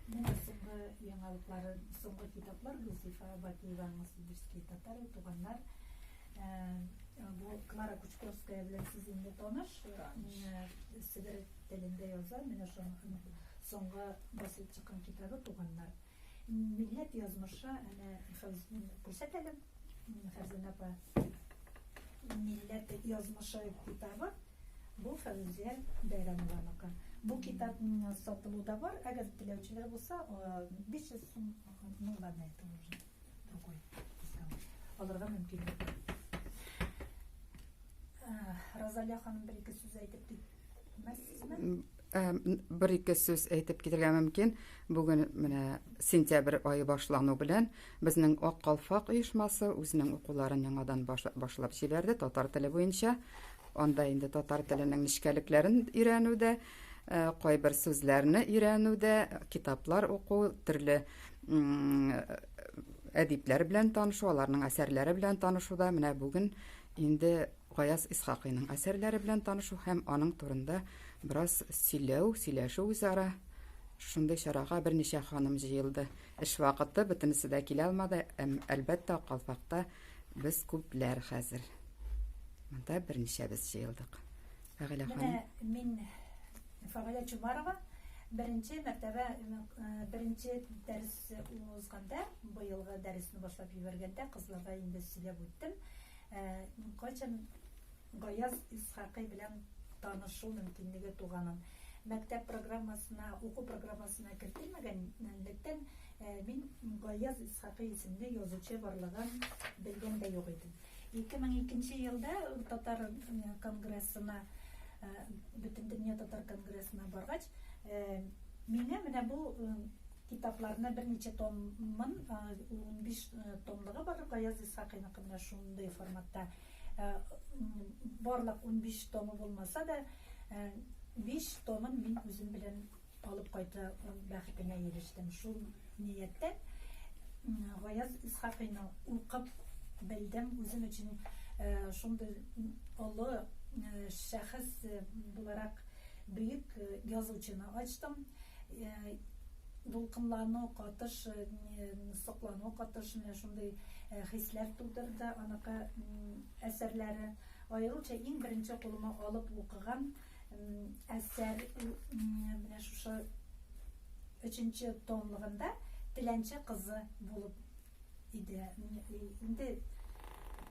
Менә соңгы яңалыклары, соңгы китаплар Гөлзифа Бакиеваның Сибирский татары, туганнар. Бу Клара Кучковская белән сез инде таныш. Сибир телендә яза, менә шуның соңгы басылып чыккан китабы туганнар. Милләт язмышы, әнә Фәүзин күрсәт әле, Фәрзәнә апа. Милләт язмышы китабы, бу Фәүзия Бәйрәмованыкы. Бу китап сатылуда бар, әгәр теләүчеләр булса, 500 сум, ну ладно, это уже другой дисконт. Алырга мөмкинлек. Розалия ханым бер ике сүз әйтеп китте. Бер ике сүз әйтеп китергә мөмкин. Бүген менә сентябрь ае башлану белән безнең Ак калфак оешмасы үзенең укуларын яңадан башлап җибәрде татар теле буенча. Анда инде татар теленең нечкәлекләрен өйрәнү дә, э, кайбер сүзләрне өйрәнү дә, китаплар уку, төрле әдипләр белән танышу, аларның әсәрләре белән танышу да менә бүген инде Гаяз Исхакыйның әсәрләре белән танышу һәм аның турында бераз сөйләү, сөйләшү үзара. Шундый чарага берничә ханым җыелды. Эш вакыты, бөтенесе дә килә алмады, әм, әлбәттә, Калфакта без күпләр хәзер. Монда берничә без җыелдык. Фәгыйлә ханым. Менә мин Фәгыйлә Чумарова беренче мәртәбә э, беренче дәрес узганда, быелгы дәресне башлап җибәргәндә кызларга инде сөйләп үттем. Ә кайчан Гаяз Исхакый белән танышу мөмкинлеге туганын, мәктәп программасына, уку программасына кертелмәгәнлектән, мин Гаяз Исхакый исемле язучы барлыгын белгән дә юк идем. 2002 нче елда татар конгрессына, Бөтендөнья татар конгрессына баргач, миңа менә бу Китапларны берничә томын, унбиш томлыгы бар Гаяз Исхакыйныкы менә шундый форматта. Барлык унбиш томы булмаса да, биш томын мин үзем белән алып кайту бәхетенә ирештем. Шул нияттән Гаяз Исхакыйны укып белдем, үзем өчен шундый олы шәхес буларак бөек язучыны ачтым. дулкынлану, катыш соклану, катыш менә шундый хисләр тудырды аныкы әсәрләре. Аеруча иң беренче кулыма алып укыган әсәр менә шушы өченче томлыгында Теләнче кызы булып иде. Инде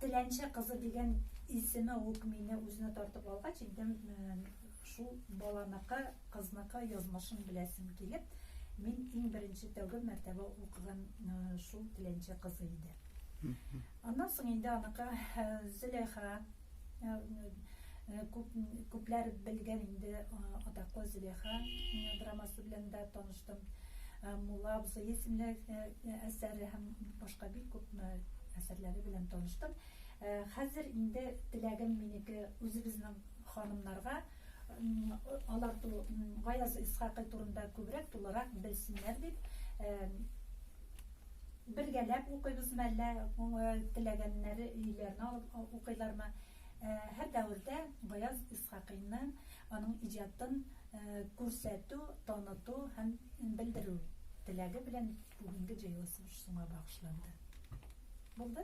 Теләнче кызы дигән исеме үк мине үзенә тартып алгач, инде Шул баланыкы, кызныкы язмышын беләсем килеп, мин иң беренче тәүге мәртәбә укыган шул теләнче кызы иде. Аннан соң инде аныкы Зөләйха күп, күпләр белгән инде атаклы Зөләйха драмасы белән дә таныштым. Мулла абзый исемле әсәре һәм башка бик күп әсәрләре белән таныштым. Хәзер инде теләгем минеке үзебезнең Ханымнарга алар ту Гаяз Исхакый турында күбрәк, тулырак белсеннәр дип, бергәләп укыйбыз мы әллә теләгәннәре өйләренә алып укыйлармы? Һәр дәвердә Гаяз Исхакыйны, аның иҗатын күрсәтү, таныту һәм белдерү теләге белән бүгенге җыелышыбыз шуңа багышланды. Булды?